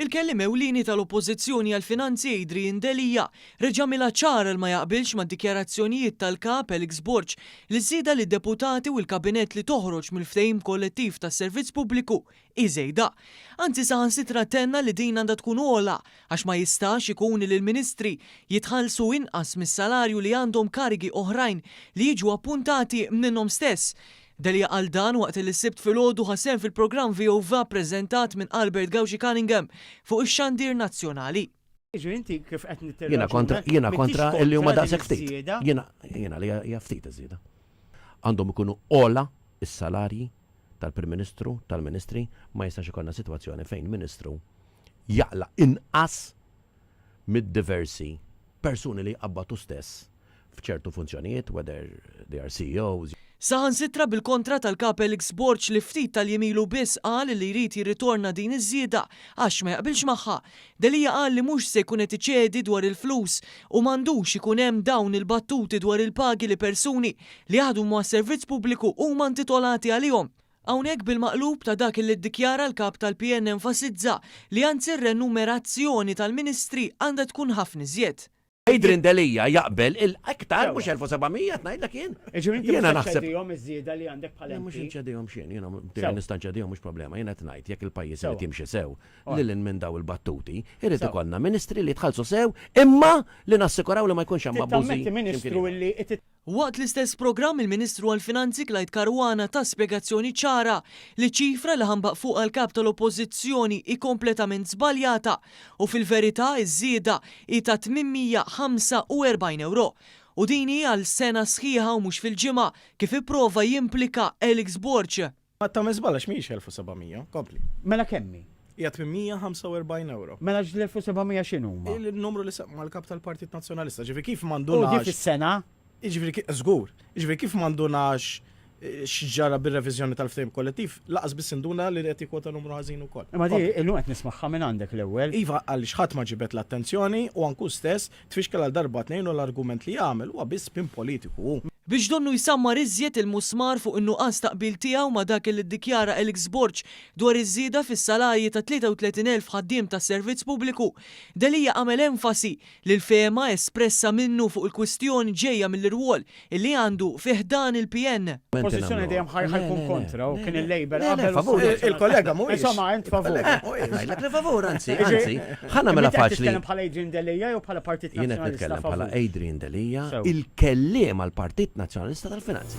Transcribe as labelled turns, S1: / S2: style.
S1: Il-Kelliem Ewlieni tal-Oppożizzjoni għall-Finanzi Adrian Delia reġa' għamilha ċara li ma jaqbilx mad-dikjarazzjonijiet tal-Kap Felix Borg li ż-żieda li d-Deputati u l-Kabinett li toħroġ mill-Ftehim Kollettiv tas-Servizz Pubbliku hi żejda. Anzi saħansitra tenna li din għandha tkun ogħla għax ma jistax ikun li l-Ministri jitħallsu inqas mis-salarju li għandhom karigi oħrajn li jiġu appuntati minnhom stess. Delia qal dan waqt li s-Sibt filgħodu ħa sehem fil-programm VOVA ppreżentat minn Albert Gauci Cunningham fuq ix-xandir nazzjonali.
S2: Jiena kontra, jiena kontra li huma daqshekk ftit. Jiena, jiena li hija ftit iż-żieda. Għandhom ikunu ogħla s-salarji tal-Prim Ministru, tal-Ministri, ma jistax ikollna sitwazzjoni fejn Ministru jaqla' inqas mid-diversi persuni li jqabbad hu stess f'ċertu funzjonijiet, whether they are CEOs, Saħansitra
S1: bil-kontra tal-Kap Alex Borg li ftit tal-jiem ilu biss qal li jrid jirritorna din iż-żieda għax ma jaqbilx magħha. Delia qal li mhux se jkun qed iċedi dwar il-flus u m'għandux ikun hemm dawn il-battuti dwar il-pagi li persuni li jaħdmu mas-servizz pubbliku huma intitolati għalihom. Hawnhekk bil-maqlub ta' dak li ddikjara l-Kap tal-PN enfasizza li anzi r-renumerazzjoni tal-Ministri għandha tkun ħafna iżjed. Adrian Delia
S2: jaqbel il Iktar, mhux 1,700 qed ngħidlek jien. Jiġifieri inti mhux se
S3: ċċedihom iż-żieda li għandek bħala MP? Le mhux inċedihom x'jien,
S2: jiena b'diri nista' nċedihom mhux problema, jiena qed ngħid jekk il-pajjiż irid jimxi sew, lil hinn minn dawn il-battuti, irid ikollna Ministri li jitħallsu sew imma li nassikuraw li ma jkunx hemm abbużi x'imkien ieħor. Waqt l-istess
S1: programm il-Ministru għall-Finanzi Clyde Caruana ta spjegazzjoni ċara li ċ-ċifra li ħanbaq fuqha l-Kap tal-Oppożizzjoni hi kompletament żbaljata u fil-verità ż-żieda hi ta' 845 ewro u din hi għal sena sħiħa u mhux fil-ġimgħa kif ipprova jimplika Alex Borg. Qatt tagħmel żball għax
S4: mhijiex 1,700, kompli. Mela kemm hi?
S3: Hija 845
S4: euro. Mela ġl-1700
S3: x'inhuma? Il-numru li semma l-Kap
S4: tal-Partit Nazzjonalista, ġifieri kif m'għandunax. U dik is-sena?
S3: Ġifieri
S4: żgur, ġifieri kif m'għandunax eh, x'ġara bir-reviżjoni tal-ftehim kollettiv, laqas biss induna li qed jikwota numru ħażin ukoll. Ma di illum qed nismagħha
S3: minn għandek l-ewwel. Iva għaliex ħadd ma
S4: ġibet l-attenzjoni u anku stess Tfixkel għal darba tnejn u l-argument li jagħmel huwa biss spin politiku u. Biex donnu jsammar
S1: iżjed il-musmar fuq in-nuqqas ta' qbil tiegħu ma' dak li ddikjara Alex Borg dwar iż-żieda fis-salarji ta' 33 elf ħaddiem tas-servizz pubbliku, Delia għamel enfasi li l-fehma espressa minnu fuq il-kwistjoni ġejja mill-irwol li għandu fi ħdan il-PN. Pożizzjoni dejjem ħajħa
S3: jkun kontra u kien il-Labour qabel favur. Il-kollega
S2: mhuwiex. Insomma,
S4: int favur.
S3: Ngħidlek li favur,
S2: anzi, anzi. Ħa nagħmilha faċli. Titkellem bħala Adrian Delia
S3: jew bħala Partit Nazzjonalista. Jien qed nitkellem bħala
S2: Adrian Delia, il-kelliem għal Partit
S3: Nazzjonalista tal-Finanzi.